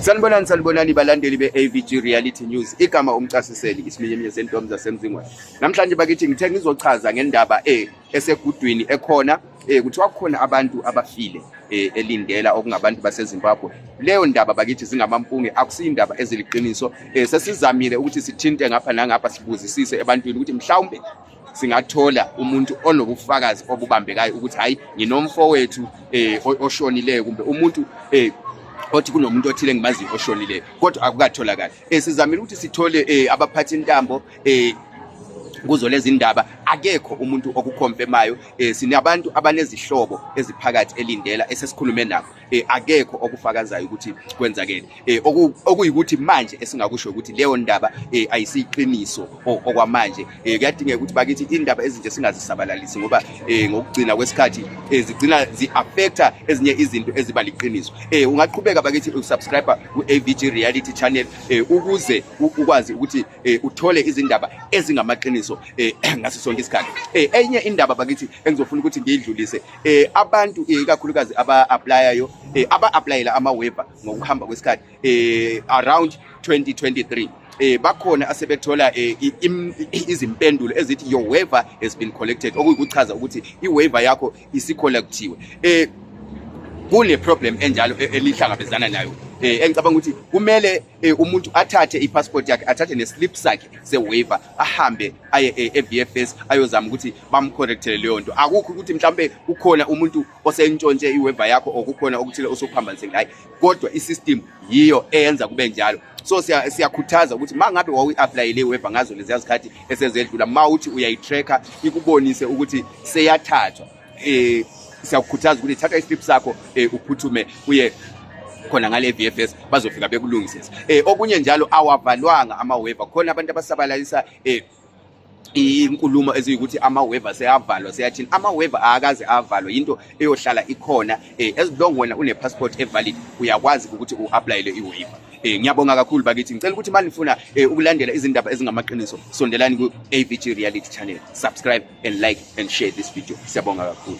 Sanibonani sanibonani balandeli be-AVG Reality News igama umcasiseli isiminyeminye sentombi zasemzingweni namhlanje bakithi ngithe ngizochaza ngendaba e esegudwini ekhona e kuthiwa kukhona abantu abafile e, elindela okungabantu basezimbabwe leyo ndaba bakithi zingamampunge akusiyindaba eziliqiniso e, sesizamile ukuthi sithinte ngapha nangapha sibuzisise ebantwini ukuthi mhlawumbe singathola umuntu onobufakazi obubambekayo ukuthi hayi nginomfowethu eh oshonileyo kumbe umuntu eh othi kunomuntu othile engimaziyo oshonileyo kodwa akukatholakali eh sizamile ukuthi sithole eh abaphathi intambo eh kuzo lezi ndaba akekho umuntu okukhomfemayo eh sinabantu abanezihlobo eziphakathi elindela esesikhulume nabo eh akekho okufakazayo ukuthi kwenzakele eh okuyikuthi manje esingakusho ukuthi leyo ndaba eh ayisiqiniso okwamanje eh kuyadingeka ukuthi bakithi indaba ezinje singazisabalalisi ngoba eh ngokugcina kwesikhathi eh, zigcina ziaffecta ezinye izinto eziba liqiniso eh ungaqhubeka bakithi usubscribe ku AVG Reality Channel eh ukuze ukwazi ukuthi eh, uthole izindaba ezingamaqiniso eh ngaso sonke isikhathi eh enye indaba bakithi engizofuna ukuthi ngiyidlulise eh abantu eh, ikakhulukazi aba applyayo eh, aba applyela ama waiver ngokuhamba kwesikhathi eh around 2023 eh bakhona asebethola eh, izimpendulo ezithi your waiver has been collected okuyikuchaza ukuthi i waiver yakho isicollectiwe eh kune problem enjalo e-, elihlangabezana nayo eh engicabanga ukuthi kumele eh, umuntu athathe ipassport yakhe athathe neslip sakhe sewaiver ahambe aye e-VFS ayozama ukuthi bamcorrectele leyo nto akukho ukuthi mhlawumbe kukhona umuntu osentshontshe iweva yakho or kukhona okuthile osokuphambanise ngayo kodwa i-system yiyo eyenza kube njalo so siyakhuthaza ukuthi uma ngabe wawuyi-aplayele iweva ngazo leziya zikhathi esezedlula uma uthi uyayi-tracker ikubonise ukuthi seyathathwa eh siyakukhuthaza ukuthi thatha islip sakho eh uphuthume uye khona ngale VFS bazofika bekulungisisa eh okunye njalo awavalwanga ama waiver khona abantu abasabalalisa eh inkulumo eziyukuthi ama waiver seyavalwa seyathini ama waiver akaze avalwa into eyohlala ikhona eh as long wena une passport evalid uyakwazi ukuthi uapplyele iwaiver eh ngiyabonga kakhulu bakithi ngicela ukuthi manje nifuna eh, ukulandela izindaba ezingamaqiniso sondelani ku AVG Reality Channel subscribe and like and share this video siyabonga kakhulu